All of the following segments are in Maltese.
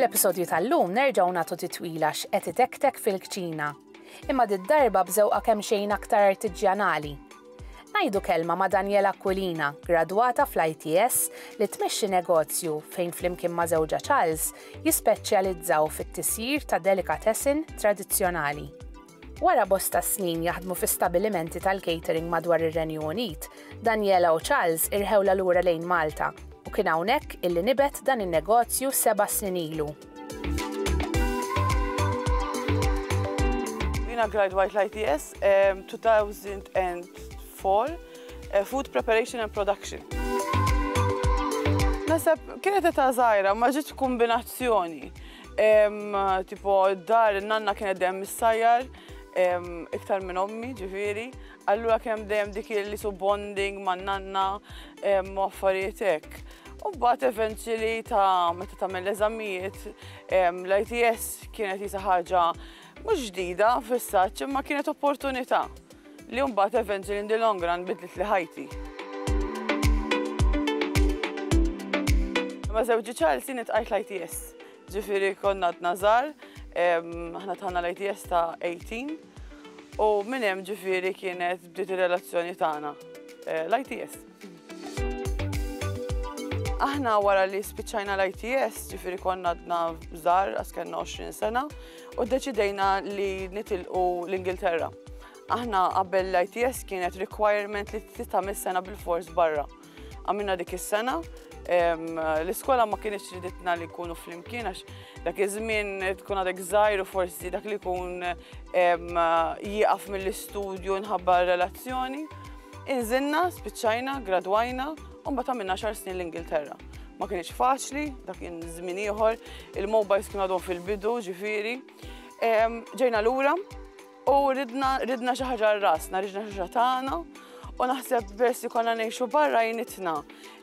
Fl-episodju tal-lum nerġgħu nagħtu titwila x'qed itektek fil-kċina. Imma did-darba bżewqa kemm xejn aktar artiġjanali. Ngħidu kelma ma' Daniela Aquilina, gradwata fl-ITS li tmexxi negozju fejn flimkien ma' żewġa Charles jispeċjalizzaw fit-tisjir ta' delikatessin tradizzjonali. Wara bosta snin jaħdmu fi stabilimenti tal-catering madwar ir-Renju Unit, Daniela u Charles irħewlha lura lejn Malta u kien hawnhekk illi nibet dan in-negozju seba' snin ilu. Jiena gradwajt l-ITS 2004, Food Preparation and Production. Naħseb kienet età żgħira ma ġietx kombinazzjoni. Tipo, dar nanna kienet dejjem mis-sajjar, iktar minn ommi, ġifiri. Allura kemm dejjem dik li su bonding ma' nanna u affarijiet hekk. U mbagħad eventually ta' meta tagħmel l-eżamijiet, l-ITS kienet jisa ħaġa mhux ġdida fis-saċ imma kienet opportunità. Li mbagħad eventually in the long run bidlitli ħajti. Ma' żewġi Charlesy nitqajt l-ITS. Ġifiri konna għadna żgħar, aħna tħanna l-ITS ta' 18 u minn hemm ġifiri kienet bdiet ir-relazzjoni tagħna eh, l-ITS. Aħna wara li spiċċajna l-ITS, ġifiri konna għadna żar, għaskenna 20 sena, u deċidejna li nitilqu l-Ingilterra. Aħna qabel l-ITS kienet requirement li titgħamil sena bil-fors barra. Għamilna dik is-sena, l-iskola ma kienx riditna li kunu fl-imkien, għax dak iż-żmien tkun għadek żgħir u forsi dak li kun jieqaf mill-istudju nħabba relazzjoni. Inżilna, spiċċajna, gradwajna, u mbagħad għamilna għaxar snin l-Ingilterra. Ma kienx faċli, dak kien żmien ieħor, il-mobiles kienu għadhom fil-bidu, ġifieri. Ġejna lura u ridna ridna xi ħaġa rasna, ridna xi ħaġa tagħna, u naħseb peress li konna ngħixu barra jnitna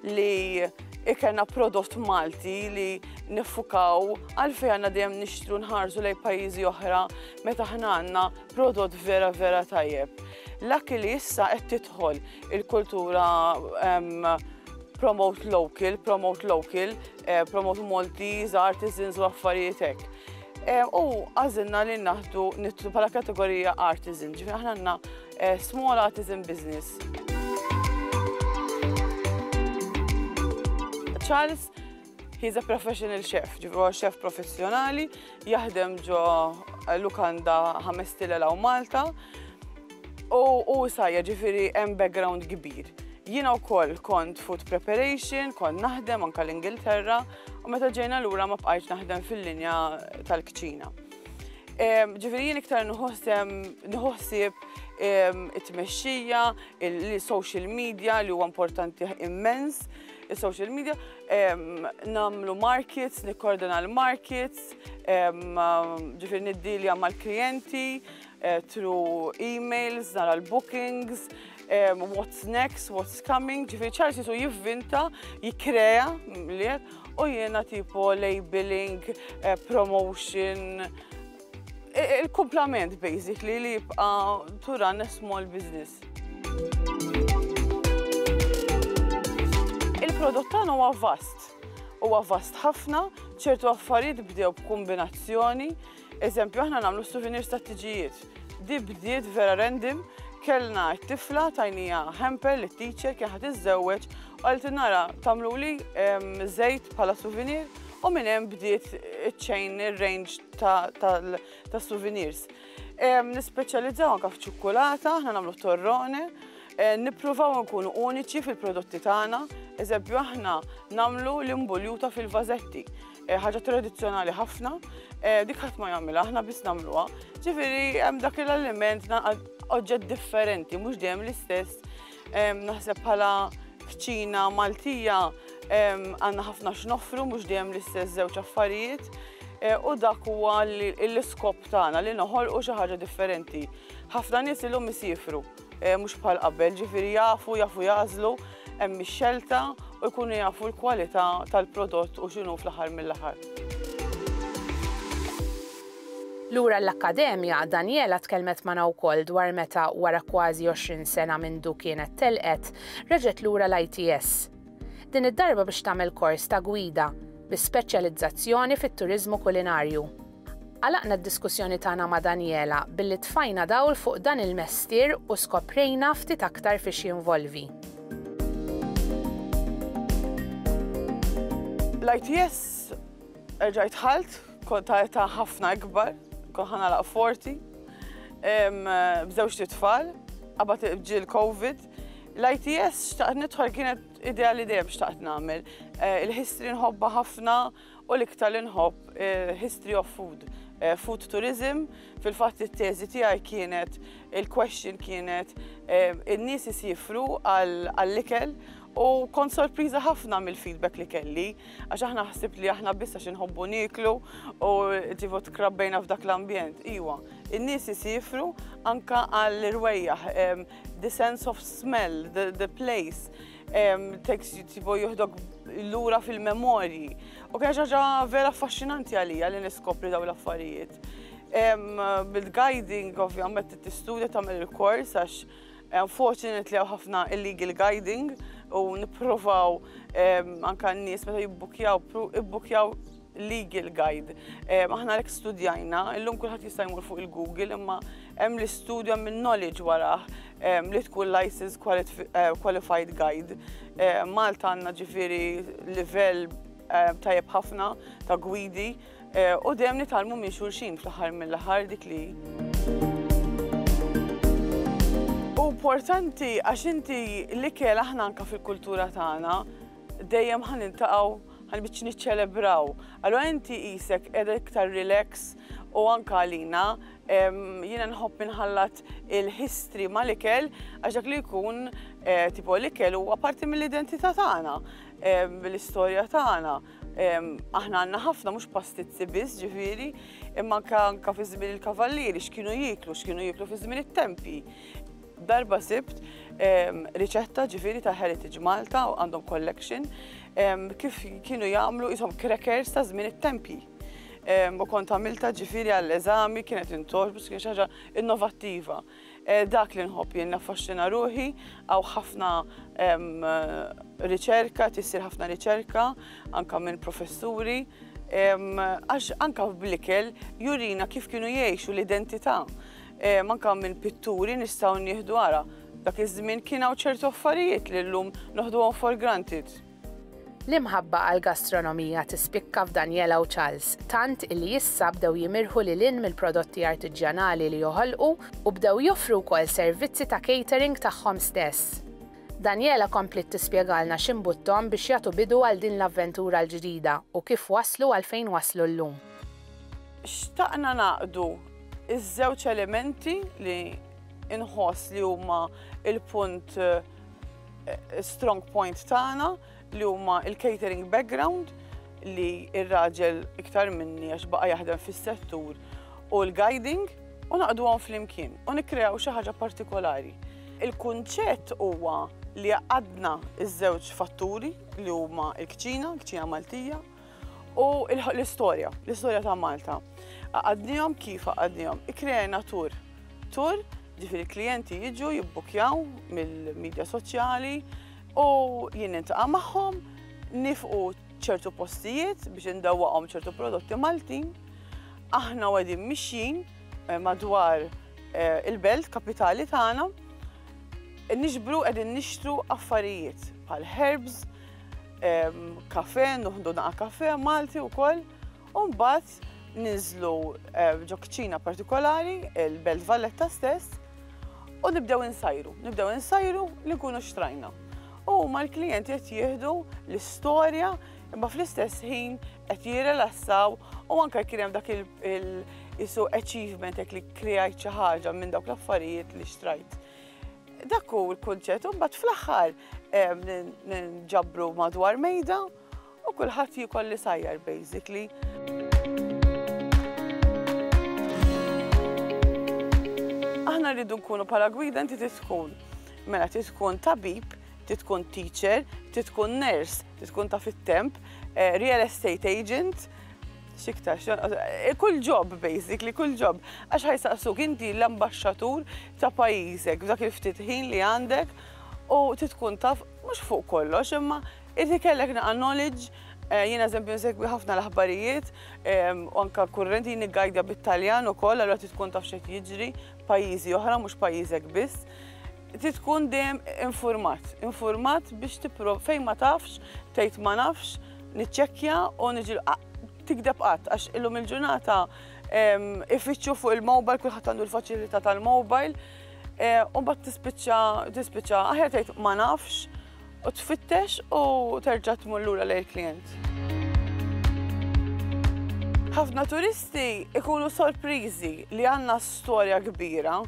li ikelna prodott Malti li niffukaw għalfejn għandna dejjem nixtru nħarsu lejn pajjiżi oħra meta ħna għandna Prodott vera vera tajjeb. L-akki li issa qed tidħol il-kultura promote local, promote local, eh, promote Maltese, artisans u affarijiet hekk. Eh, u għażilna li naħdu nitlu bħala kategorija artisan, ġifi aħna għandna eh, small artisan business. Charles, He's a professional chef, ġifri huwa chef professjonali, jaħdem ġo eh, lukanda ħames tilel u Malta. U u sajja ġifiri hemm background kbir. Jiena wkoll kont food preparation, kont naħdem anka l-Ingilterra, u meta ġejna lura ma bqajtx naħdem fil-linja tal-kċina. Em, Ġifiri jien iktar nħossem nħossib em, it-tmexxija, il-social media li huwa importanti immens, is-social media, namlu markets, nikkordona l-markets, ġifir niddilja mal-klienti, eh, through emails, nara l-bookings, what's next, what's coming, ġifir ċarsi su jivvinta, jikrea, u jena tipo labeling, eh, promotion, Il-kumplament basically li jibqa' to run a small business. Il-prodott tagħna huwa vast. Huwa vast ħafna, ċertu affarijiet bdew b'kombinazzjoni. Eżempju, aħna nagħmlu souvenirs ta' tiġijiet. Di bdiet vera random, kellna t-tifla tajnija hamper li t-teacher kien ħad iżżewweġ Għalt in-nara tagħmluli żejt bħala souvenir u minn hemm bdiet iċ-chain ir-range tas-souvenirs. Nispeċjalizzaw anke f'ċukkulata, aħna nagħmlu torrone, eh, nippruvaw nkunu uniċi fil-prodotti tagħna, eżempju aħna nagħmlu l-imbuljuta fil-vażetti, eh, ħaġa tradizzjonali ħafna, eh, dik ħadd ma jagħmilha, aħna biss nagħmluha. Ġifieri hemm dak l-aliment oġġett differenti, mhux dejjem l-istess Naħseb bħala kċina Maltija għandna ħafna x'noffru mhux dejjem l-istess żewġ affarijiet eh, u dak huwa l-iskop tagħna li noħolqu xi ħaġa differenti. Ħafna nies ilhom isifru eh, mhux bħal qabel, ġifieri jafu, jafu jażlu, hemm ix-xelta u jkunu jafu l-kwalità tal-prodott u x'inhu fl-aħħar mill-aħħar. Lura l-Akkademja, Daniela tkellmet magħna wkoll dwar meta, wara kważi għoxrin sena mindu kienet telqet, reġgħet lura l-ITS. Din id-darba biex tagħmel kors ta' gwida, bi speċjalizzazzjoni fit-turiżmu kulinarju. Għalaqna d-diskussjoni tagħna ma' Daniela billi tfajna dawl fuq dan il-mestier u skoprejna ftit aktar fiex jinvolvi. L-ITS erġajt dħalt. Kont ta' età ħafna ikbar, kont ħana laq forti, bżewġ tfal, qabad ġi l-Covid. L-ITS xtaqt nidħol kienet idea li dejjem xtaqt nagħmel. Eh, il-history nħobba ħafna u l-iktar li nħobb eh, history of food. Eh, food tourism, fil-fatt it-teżi tiegħi kienet il-question kienet in-nies isifru għall-ikel U kont sorpriża ħafna mill-feedback li kelli, għax aħna ħsibt li aħna biss għax inħobbu niklu u ġivu tkrabbejna f'dak l-ambjent. Iwa, in-nies isifru anka għall-irwejjaħ, the sense of smell, the, the place, tekst jittibu juhdok l-ura fil-memorji. U kien ġaġa vera affaxxinanti għalija li niskopri daw l-affarijiet. Bil-guiding, ovvjament, t-istudja tamel il-kors għax Unfortunately hawn ħafna illegal guiding u nipprovaw anke n-nies meta jibbukkjaw ibbukkjaw legal guide. Aħna għalhekk studjajna, illum kulħadd jista' jmur fuq il-Google imma hemm l-istudju hemm il-knowledge warah li tkun licensed qualified guide. Malta għandna ġifieri livell tajjeb ħafna ta' gwidi. U dejjem nitgħallmu minn xulxin fl-aħħar mill-aħħar dik li importanti għax inti l-ikel aħna anka fil-kultura tagħna dejjem ħan intaqgħu ħan biċ niċċelebraw. Allora inti isek qiegħda iktar relax u anka għalina jiena nħobb inħallat il-history mal-ikel għax dak li jkun eh, tipo l-ikel huwa parti mill-identità tagħna, l-istorja tagħna. Aħna għandna ħafna mhux pastizzi biss ġifieri, imma anke fi żmien il-kavallieri x'kienu jieklu, x'kienu jieklu fi żmien it-tempi. Darba sibt riċetta ġifieri ta' Heritage Malta u għandhom collection kif kienu jagħmlu ishom crackers ta' żmien it-tempi. U kont għamilta ġifieri għall-eżami kienet intoġbu, kien xi ħaġa innovattiva. Dak li nħobb jien naffaxxina ruħi, hawn ħafna riċerka, tissir ħafna riċerka anke minn professuri, għax anke bl-ikel jurina kif kienu jgħixu l-identità. Anke minn pitturi nistgħu nieħdu ara, dak iż-żmien kien hawn ċertu affarijiet li llum noħduhom for granted. L-imħabba għall-gastronomija tispikka f'Daniela u Charles, tant illi issa bdew jimirħu lil hinn mill-prodotti artiġjanali li joħolqu u bdew joffru wkoll servizzi ta' catering tagħhom stess. Daniela kompliet tispjegalna x'imbutthom biex jagħtu bidu għal din l-avventura l-ġdida u kif waslu għal fejn waslu llum. Xtaqna ngħaqdu ż-żewġ elementi li nħoss li huma l-punt eh, strong point tagħna li huma il-catering background li ir-raġel iktar minni għax baqa jaħdem fis-settur u l-guiding u naqdu għon fl-imkien u nikrew xi ħaġa partikolari. Il-kunċett huwa li għadna iż-żewġ fatturi li huma l-kċina, l-kċina Maltija, u l-istorja, l-istorja ta' Malta. Għadnijom kif għadnijom, ikrejna tur. Tur, ġifiri klienti jiġu jibbukjaw mill-medja soċjali u jien intaqa' magħhom, nifqu ċertu postijiet biex indawwaqhom ċertu prodotti Maltin. Aħna għedin mixjin eh, madwar eh, il-belt kapitali tagħna, nixbru qegħdin nixtru affarijiet bħal herbs, kafe, nuħdu naqa kafe Malti u koll, un bat ninżlu ġo kċina partikolari, il-Belt Valletta stess, u nibdew insajru, nibdew insajru li nkunu xtrajna. U ma l-klijenti qed jieħdu l-istorja imma fl-istess ħin qed jirrelassaw u anke kien hemm dak il-isu achievement jekk li kreajt xi ħaġa minn dawk l-affarijiet li xtrajt. Dak hu l-kunċett, u mbagħad fl-aħħar ġabru madwar mejda u kulħadd jikol li sajjar basically. Aħna rridu nkunu bħala gwida inti titkun. Mela titkun tabib, titkun teacher, titkun nurse, titkun ta' fit-temp, eh, real estate agent, xiktar, eh, kull job basically, kull job. Għax ħajsaqsuk inti l-ambasċatur ta' pajjiżek f'dak il-ftit ħin li għandek u trid tkun taf mhux fuq kollox imma irid ikollek naqa' knowledge eh, jiena eżempju nsegwi ħafna l-aħbarijiet ehm, u anke kurrenti jien niggajdja bit-Taljan ukoll allura trid tkun taf xejn jiġri pajjiżi oħra mhux pajjiżek biss trid tkun dejjem infurmat, infurmat biex tipprov fejn ma tafx, tgħid ma nafx, niċċekkja u niġi tikdeb qatt għax illum il-ġurnata ifittxu fuq il-mobile, kulħadd għandu l-faċilità tal-mobile, e, u bat tispiċċa, tispiċċa, aħjar tgħid ma nafx, u tfittex u terġa' tmur lura lejn il-klient. Ħafna turisti ikunu sorpriżi li għandna storja kbira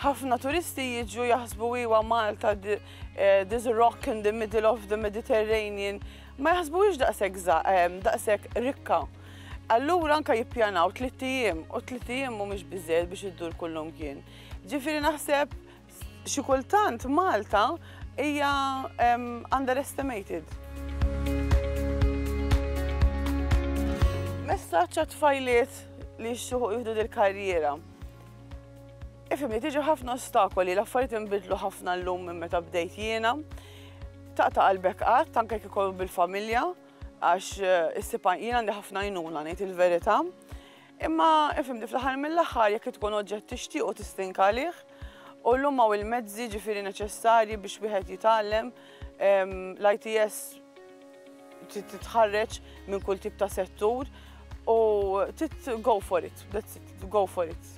Ħafna turisti jiġu jaħsbu iwa Malta this rock in the middle of the Mediterranean. Ma jaħsbuhiex daqshekk daqshekk rikka. Allura anka jippjanaw tlitt ijiem u tlitt ijiem mhumiex biżejjed biex iddur kullum kien. Ġifieri naħseb xi kultant Malta hija underestimated. Messaġġ għat-tfajliet li jixtiequ jieħdu dil-karriera. Ifhimni, tiġi ħafna ostakoli, l-affarijiet inbidlu ħafna llum minn meta bdejt jiena. Taqta' qalbek qatt, anke jekk ikun bil-familja, għax eh, issib jien għandi ħafna jnuna ngħid il-verità. Imma ifhimni fl-aħħar mill-aħħar jekk tkun oġġett tixtieq u tistinka għalih, u llum hawn il-mezzi ġifieri neċessarji biex wieħed jitgħallem ehm, l-ITS titħarreġ minn kull tip ta' settur u tit go for it, that's it, go for it.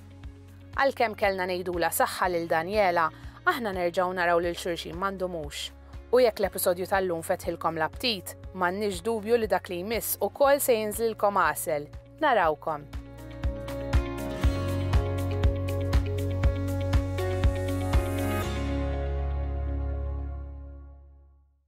Għalkemm kellna ngħidula saħħa lil Daniela, aħna nerġgħu naraw lil xulxin ma ndumux. U jekk l-episodju tal-lum fetħilkom l-aptit, m'għandniex dubju li dak li jmiss ukoll se jinżlilkom għasel. Narawkom!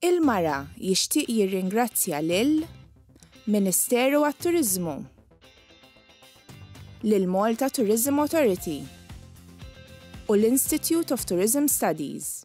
Il-Mara jixtieq jirringrazzja lil Ministeru għat-Turiżmu, lill-Malta Tourism Authority u l-Institute of Tourism Studies.